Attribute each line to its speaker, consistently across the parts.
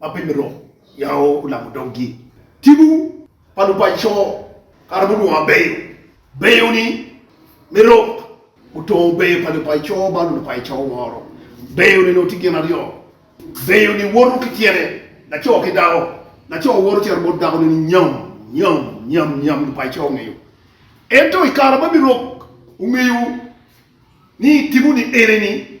Speaker 1: ma pe mito yao olamo doggi. Tipo pa lupaco kare mudwo mabeyo beyo ni me rok otongo beyo pa lupaco ma lupaco woro. Beyo ni nongo tye gin aryo, beyo ni woto ki tyene, laco ki dako, laco woto cito bot dako ne ni nyam nyam nyam nyam lupaco ongeyo. Ento ikare ma me rok ongeyo ni tipo ni ene ni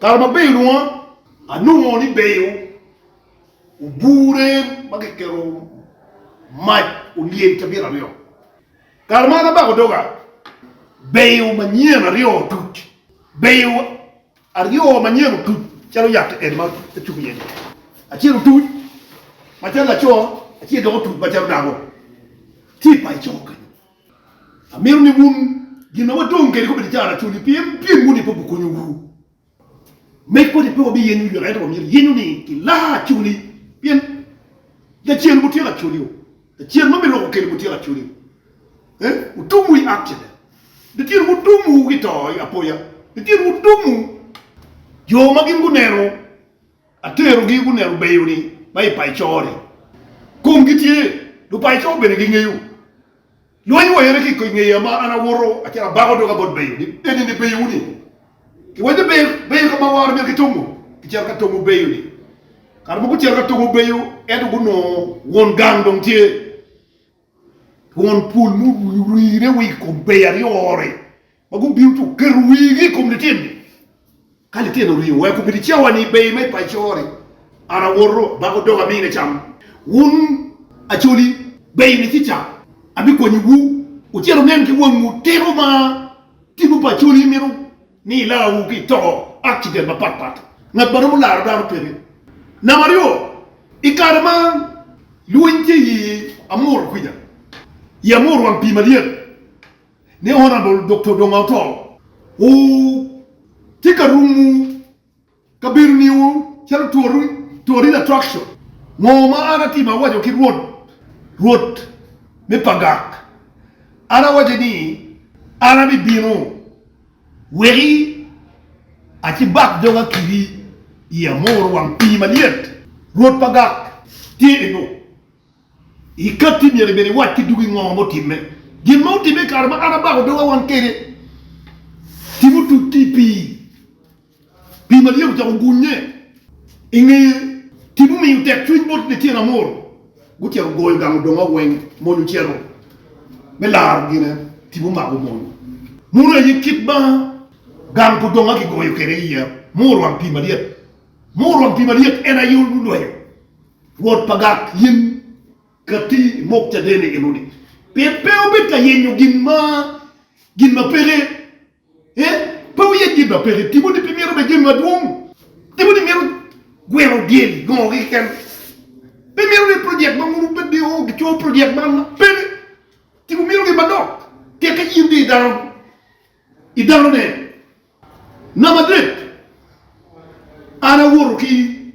Speaker 1: Kare ma Beyi olwonga, anongo ni Beyi obure ma kiketo mac olyel cabit aryo. Kare ma an abako doga, Beyi manyen aryo otuc. Beyi aryo manyen otuc calo yat eni ma acubo iye-ni. Acel otuc macalo laco, acel dok otuc macalo dako. Tye i paco kenyo. Amito ni wun gin ma wadong kede kobedi caro cwiny pien pyem wuni pe gukonyowu. Med kodi pe wabiyenyo yot ento wamyero yenyo ni ki laa acoli pien Lacen mutyeko acolio, Lacen ma biruko kelo mutyeko acolio, otum wi accident, Lacen mutum wu ki to apoya, Lacen mutum wu. Jo ma gin guneno Aterogi guneno beyo-ni ma i paco-ni. Komgi tye, lupaco bene gingeyo. Lweny wayere ki i ngeya ma an awoto acito abako doga bot beyo ni, 'Enini beyo-ni. Kiwaco ni, 'Ber, ber ka ma wara myero kitongo. Kicito ka tongo beyo-ni. Kare mogo gucito ka tongo beyo, ento gunongo won gang dong tye. Twon pol murine wa i kom beyo aryo ori ma gubino ci guketo wigi i kom lityen-ni. Ka lityen-ni oringo weko bedi cawa ni beyo ma i paco ori, an awoto, abako doga amine cam. Wun acoli, beyo ni kica abikwanyiwu. Wucit wunen ki wangwu tito ma tinwu pa acoli mito. ni ilarwu ki i to, accident, mapat pat, ngat ma romo laro dano peke. Namba aryo, i kare ma lweny tye i Amuru kwica, i Amuru wang pii malyet ni Honourable Doktor Odongo Otoo, wu tye ka rumu. Kabedo niu calo Turin Attraction. Ngo ma an atimo? Awaco ki Rwot, Rwot me pagak, an awaco ni, An abibino, weki acibak doga kiri i amor wang pii malyet. Rwot pagak tye eno. I katti myero ibed iwac ki dugi ngo ma otimme. Gin ma otimme i kare ma an abako doga wang kede, timu tuc ki i pii. Pi Maria ocako gunye i ngeye ki mumiyo tekcwiny bot Lacen Amor. Gutyeko goyo gang odonga weng, mony ocito me laro gine tipo omako mony. Mono aye kit ma gang pa odonga kigoyo kwede iya ma orwang pi malyet. Ma orwang pi malyet en aye olwenyo wot pa gak yen kati i mok caden enoni pien pe obed ka yenyo gin ma peke. Ee, pe wuye gin ma peke. Timoti pe mito bene jami madwong. Timoti mito gweno dyel i gongo keken. Pe mito ni project ma mogo bed ni o gicobo project man ma peke. Ci wumito gin madok. Tek ka in dong i dano, i danone. Namba adek, an awoto ki.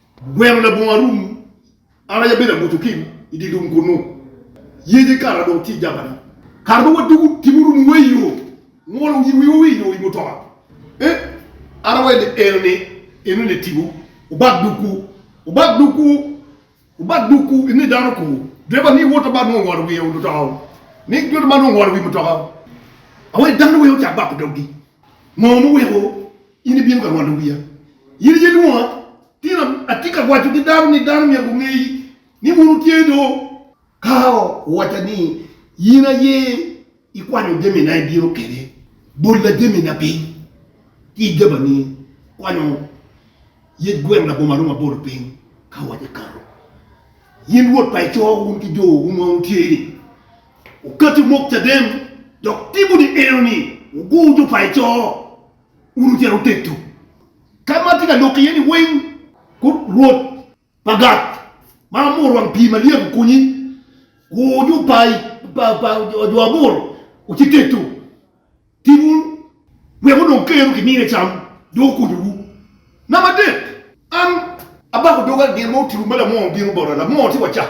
Speaker 1: Gweno labongo arum, an aye abedo abuto kim i dye lum kunnu, yece kara dong tye i jabani. Kara dong wadwogo kim orumo wa i yo, ngolo oyibo wiwa wa i yo i mutoka. E, ara wa ni enoni, enoni tipo, wubak dukwu, wubak dukwu, wubak dukwu, enoni dano kwo. Dreba ni wota man nongo ongolo wiye i mutoka-wu, ni wota man nongo ongolo wi mutoka-wu. Awa ni dano wek ocak bako doggi, ngo muweko? In ibino ka ngolo wiya. In aye lwonga. Tira, atye ka waco ki dano ni dano myero gungeyi ni wun wutye do. Ka owacca ni, In aye ikwanyo jamina ibino kene, bolla jamina piny ki i jabani, kwanyo yec gweng labongo arum abolo piny. Ka owacca ekato, in Rwot pa ico wun ki jo wu ma wutye ni, Wukati omok caden, dok tipo ni enoni, wugur jo pa ico. Wun ocito wutedo ka ma atye ka loko iye-ni weng. Kut Rwot pa Gat, ma amor wang pii malyet okonyi, ku ju pa jo abor ocit tedo. Timwu wek odong keru ki mine cam, dong okonyowu. Namba adek, an abako doga gin ma otibu ma lamor bino bota, lamor ci waca,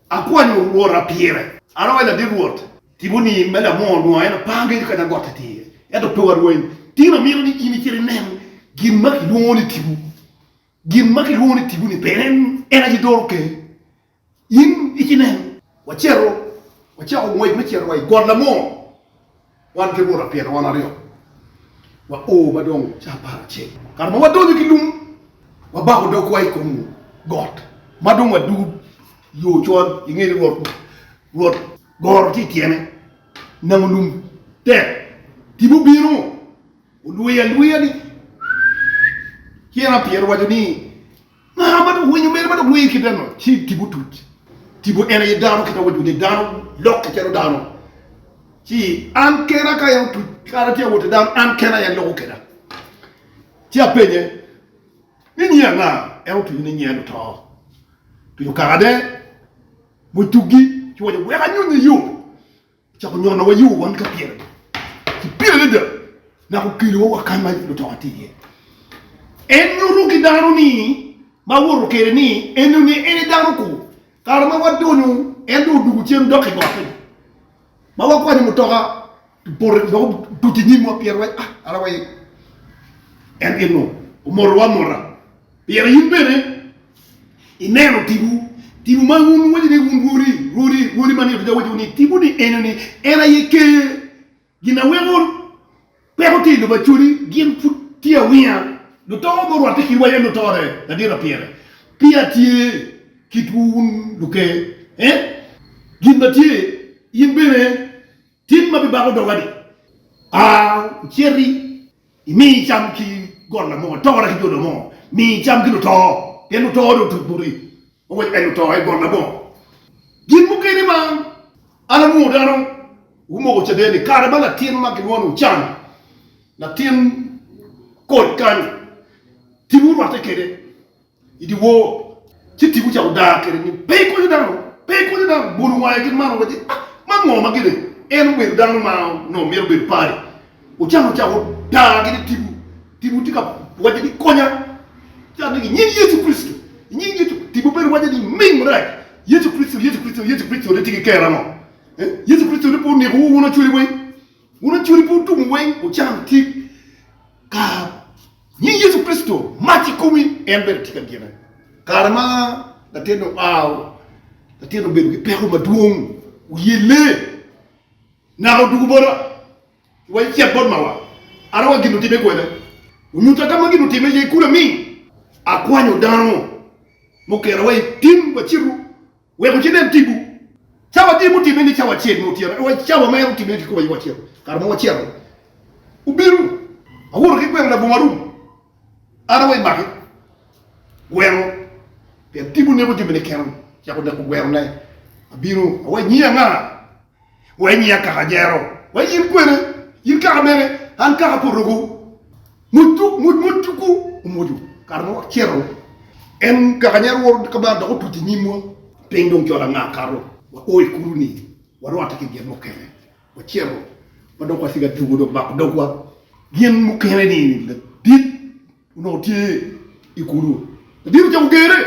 Speaker 1: Akwanyo rwota pire. An awaco ladit rwot, Tipo ni me lamor nua en apar geco kadi agot i tir, ento pe warweny. Tin amito ni in icit inen gin ma kilwongo ni tipo. Gin ma kilwongo ni tipo ni bene en aye doro ker. In icit inen. Wacito, wacako ngwec me cito wa i got lamor. Wan ki buta pyerro wan aryo wa o ma dong ca apar acel. Kare ma wadonyo ki lung, wabako dogwa i kom got ma dong wadud yo col. Inge ni rwot rwot goro tye i tyene, namo lum tek. Tipo obino olweya alweya ni, Tyen apyerro owaco ni, Ngara ma dok winyo mere ma dok lir kite ango? Ci tipo otuc, tipo en aye dano kit ma waco ni dano lokke calo dano, ci an kena ka en otuc kara tye awot i dano an kena en loko keda. Ci apenye ni nyi anga? En otuco ni nyi en oto. Tuco karane mucugi ci waco wek anyonye yo Ocako nyonowa yo wan ka pyeragi ki pil adada, naka okelowa wa kany ma lutoka tye iye. En nyuto ki dano ni ma owoto kwede ni enyo ni en aye dano kur. Kare ma wadonyo en dong odwogo cen dok i gotte ni ma wakwanyo mutoka bote dok otuc i nyimwa pien wa ah ara wa aye en enongo omotowa amota. Pire in bene ineno tibu, tibu ma wun wuwaco ni wun rwodi, rwodi, rwodi man Yatida owaco ni tibu ni eno ni en aye Ker. Gin a weko peko tye i lobo Acholi gin pud tye awinga, luto ma orwatte kitwa en otore ladira pire peya tye kitwu wun luker eh gin ma tye in bene Tim ma bibako doga-ni. A Iciti, imi icam ki golla mo, itora ki joda mo, mi icam ki luto, pien luto dong otuc boti. Oweko en luto aye golla mo. Gin mukene ma an alwongo dano gumoko caden-ni, kare ma latin ma gilwongo ni Ochan, latin koc kany, timwu rwatte kwede. i dyewor, ci tipo ca odar kwede ni pe ikonyo dano, pe ikonyo dano, bolo wange ki malo waci, Ah, man ngo ma gire? En obedo dano ma onongo mito bedo pari. Ocako ca odar kwede tipo, tipo tye ka wacce ni konya, cat ni i nying Yecu Kricito, i nying Yecu, tipo bene wacce ni ming marac, Yecu Kricito, Yecu Kricito, Yecu Kricito ni tye ki kero ango? Yecu Kricito ni pe oneko wu wun acwele wai? Wun acoli pe wutum weng wucam tic ka nying Yecu Kricito mac i komi en bene tye ka gine. Kare ma latinne oao, latinne obedo ki peko madwong, oyelle, naka odwogo bota ki waco cit bot mawa ata wa gin otime kwene. Onyuta ka ma gin otime iye kulu aming akwanyo dano mukera wa i tim wacito. Wek ociden tipo. Cawa tye mutimme ni cawa acel me otyeno, ento cawa mere otimme ki kome wa cito. Kare ma wacito-ni, obino, awoto ki gweno labongo arum, an awe make gweno, pien tipo neko timme ni keno, cako neko gwenone. Abino, awe nyiye anga? Wai nyi akaka jero. Wai yin kwene, yin kaka mene, an kaka potogo. Mot mot tuku omwoco kare ma wacito. En kaka nyero woro kabar dok otuc i nyimwa. Piny dong col anga akato. Wa o i kulu ni warwate ki gin mukene. Wacito wadok wa siga dwogo dong mako dogwa. Gin mukene ni ladit onongo tye i kulu. Ladit ocako gere.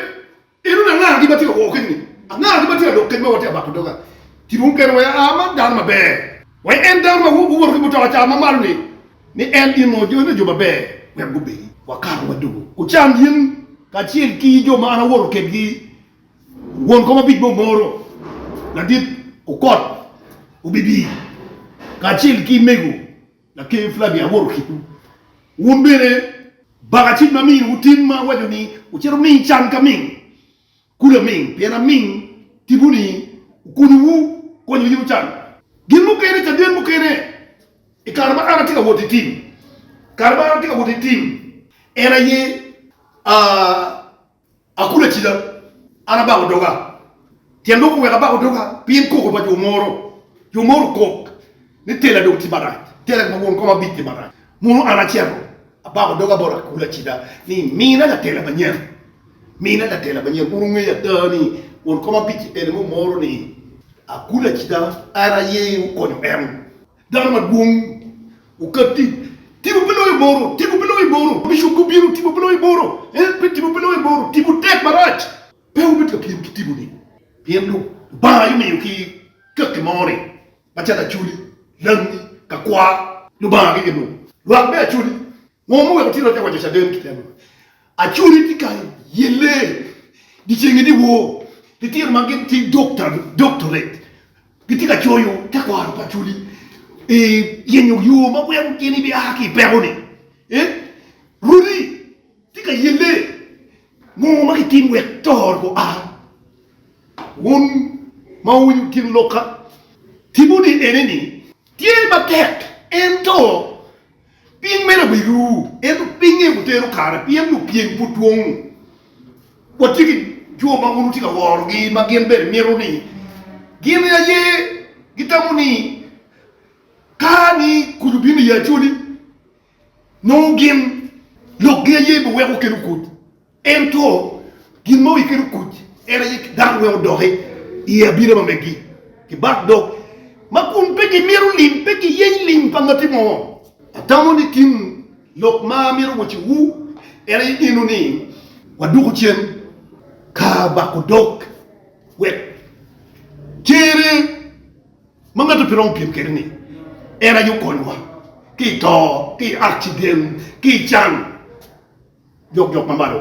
Speaker 1: Enoni angara gin ma tye ka wor kec ni? Angara gin ma tye ka dok kec ma watye ka bato doga ki dong kene wek aa man dano maber? Wek en dano ma woto ki mutoka ca ma malo ni, ni en ingo jone jo maber wek gubedi. Wakato wadugo Kucan in kacel ki jo ma an awoto kedgi won kom abic bo moro ladit okot obibi kacel ki mego. Laker Flavia awoto kitwu. Wun bene baka cik ma miniwu tim ma waco ni wucito ming can ka ming, kulu aming, pien aming tipo ni wukonyowu konyo yin ocan. Gin mukene, caden mukene, i kare ma an atye ka woti tim, kare ma an atye ka woti tim en aye, aa, Akulo acida, an abako doga. Tyen lok oweko abako doga pien koko pa jo moro. Jo moro okok ni tela dong tye marac, tela ki ma won kom abic tye marac. Mono an acito abako doga bot akulo acida ni mina latela manyen, mina latela manyen kun ongeyo ada ni won kom abic-ci en aye mumoro ni akulo acida en aye okonyo en. Dano madwong okat tic, tipo pe loyo boro, tipo pe loyo boro, bishop gubino, tipo pe loyo boro, eh, pe tipo pe loyo boro, tipo tek marac. Pe wubed ka pyem ki tiponi, pien Lubanga aye omiyo ki kaki moni, macalo acholi, langi, kakwar, Lubanga gege lub, lwak me acholi, Ngo ma oweko Tina te waco caden kite ma Acholi tye ka yelle dyeceng-ngi dyewor? Litino ma gin ki doctorate gitye ka coyo tekwaro pa Acholi i yenyo yo ma weko gin ebia ki i peko-ni. Runi tye ka yelle ngo ma kitim wek to gua? Wun ma wuwinyo gin lok-ka, timwu ni ene ni, Tye matek ento Piny meno be ru, ento pinye butero kare, pien lupyem pud dwong. Watye ki jo ma wun wutye ka worogi ma gin bene mito ni gin aye gitamo ni ka ni kuc obino i Acholi, nongo gin lokgi aye biweko kelo kuc. Ento gin ma oikke dong kuc en aye dano weng odoki i abina ma megi ki bat dog ma kun pe gimito lim, pe giyeny lim pa ngati mo. Atamo ni tin lok ma amito wacci wu en aye eno ni waduku cen ka bako dog wek cere ma ngat pe romo pyem kwede ni en aye okonywa ki i to, ki i akciden, ki i can, jok jok ma malo.